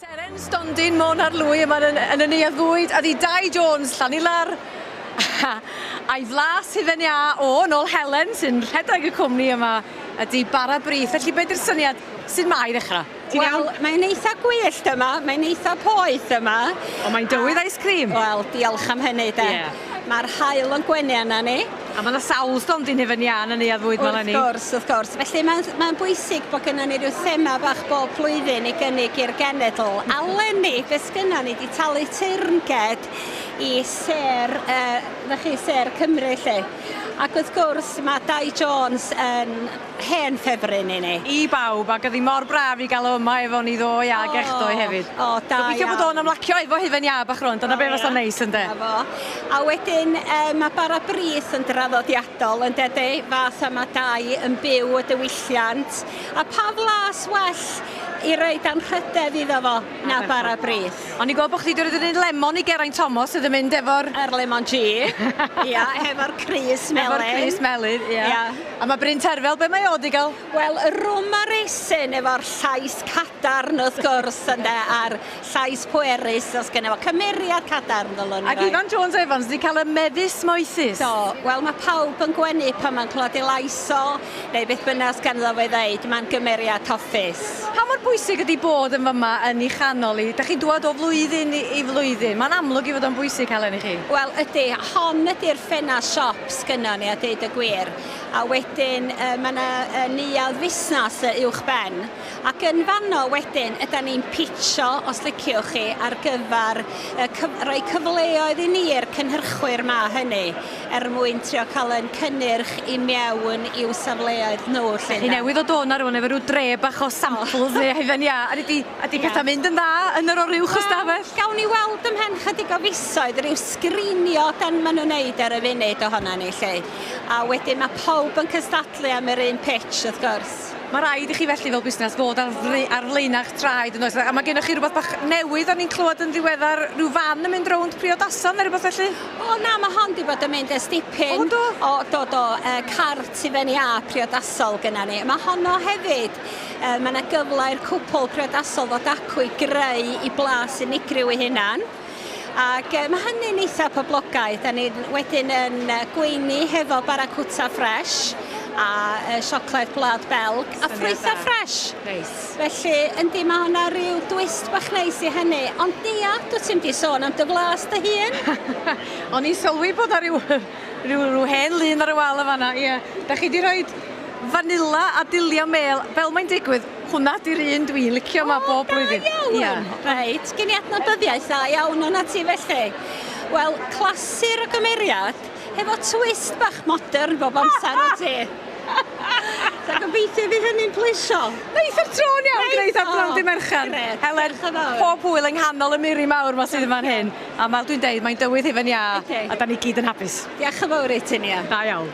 Seren stondin Môn ar Lwy yma yn, yn y neuadd fwyd, a di Dai Jones, Llanilar, a'i flas hufen iâ o, yn ôl Helen, sy'n rhedeg y cwmni yma, ydy bara brith. Felly, beth yw'r syniad? Sut mae i ddechrau? Ti'n iawn? Wel, mae'n eitha gwyllt yma, mae'n eitha poeth yma. Ond mae'n dywydd ice cream. Wel, diolch am hynny de. Ie. Mae'r haul yn gwenu arna ni. A mae yna sawl storm di nefyn iân yn neuad fwyd fel ni. Wrth gwrs, wrth gwrs. Felly mae'n mae bwysig bod gennym ni rhyw thema bach bob blwyddyn i gynnig i'r genedl. A lenni, beth sgynna ni, di talu teyrnged i ser, uh, chi, ser Cymru lle. Ac wrth gwrs, mae Dai Jones yn Hen ffefryn i ni. I bawb ac oedd hi mor braf i gael o yma efo ni ddoe ag echdoe hefyd. O, o, da iawn. Gobeithio bod o'n ymlacio efo hufen iâ bach rŵan, dyna be fasa'n neis ynde? Na fo. A wedyn yy mae bara brith yn draddodiadol ynde de? Fath a mae dau yn byw y diwylliant. A pa flas well i roed anrhydedd iddo fo na bara brith? O'n i'n gweld bod chdi 'di roid yr un lemon i Geraint Thomas sydd yn mynd efo'r... Yr lemon G. Ia, hefo'r crys melyn. Hefo'r crys melyn, ia. Ia. A mae Bryn Terfel, be mae o wedi cael? Wel, y rwm ar esyn efo'r llais cadarn wrth gwrs ynde, a'r llais pwerus, os gynna fo cymeriad cadarn ddylwn i Ac Ifan Jones Evans wedi cael y mefus moethus. Do, wel mae pawb yn gwenu pan mae'n clywed ei lais o, neu beth bynnag os ganddo fo i ddeud, mae'n gymeriad hoffus. Pa mor bwysig ydy bod yn fyma yn i chanol i? Dach chi'n dŵad o flwyddyn i flwyddyn, mae'n amlwg i fod o'n bwysig halen i chi. Wel ydy, hon ydy'r ffenast siop. sgynnon ni a deud y gwir. A wedyn yy ma' 'na yy neuadd fusnas yy uwchben ac yn fanno wedyn ydan ni'n pitsio os liciwch chi ar gyfar yy cyf- roi cyfleoedd i ni i'r cynhyrchwyr 'ma hynny er mwyn trio ca'l 'yn cynnyrch i mewn i'w safleoedd nhw 'lly ynde? Chi newydd ddod o 'na rŵan efo ryw dre bach o samples neu a hyd yn ia a nei di Ydy pethau'n mynd yn dda yn yr o'r uwch ystafell? Gawn ni weld ymhen chydig o fisoedd ryw sgrinio dan maen nhw'n neud ar y funud ohona ni 'lly. A wedyn mae pawb yn cystadlu am yr un pitch wrth gwrs. Mae rhaid i chi felly fel busnes fod ar ar flaenau'ch traed yn oes? A mae gennych chi rhywbeth bach newydd o'n i'n clywed yn ddiweddar, rhyw fan yn mynd rownd priodason neu rhywbeth felly? O na, mae hon wedi bod yn mynd ers dipyn. O do? O do do, yy cart i fyny â priodasol gynna ni. Mae honno hefyd Yy mae 'na gyfle i'r cwpl priodasol ddod acw i greu i blas unigryw ei hunan. Ac yy mae hynny'n eitha poblogaidd. Da ni wedyn yn yy gweini hefo bara cwta ffresh a yy siocled gwlad Belg a ffrwytha ffresh. Neis. Felly yndi mae hwnna rhyw dwist bach neis i hynny. Ond Nia, dwt ti'm 'di sôn am dy flas dy hun. O'n i'n sylwi bod 'na ryw Rhyw, rhyw hen lun ar y wal yn fan'na, ie. Dach chi 'di rhoid fanila a dulliau mêl, fel mae'n digwydd, hwnna 'di'r un dwi'n licio 'ma bob blwyddyn. O, da iawn! Ie. Reit, gen i adnabyddiaeth dda iawn o'na ti felly. Wel, clasur o gymeriad, hefo twist bach modern bob amser o ti. So gobeithio i fi hynny'n pleisio. Neith o'r tro'n iawn, gneith o'r tro'n di Mercher. Helen, pob hwyl yng nghanol y miri mawr 'ma sydd yn fan hyn. A fel dwi'n deud, mae'n dywydd hufen iâ, a da ni gyd yn hapus. Diolch yn fawr i ti, Nia. Da iawn.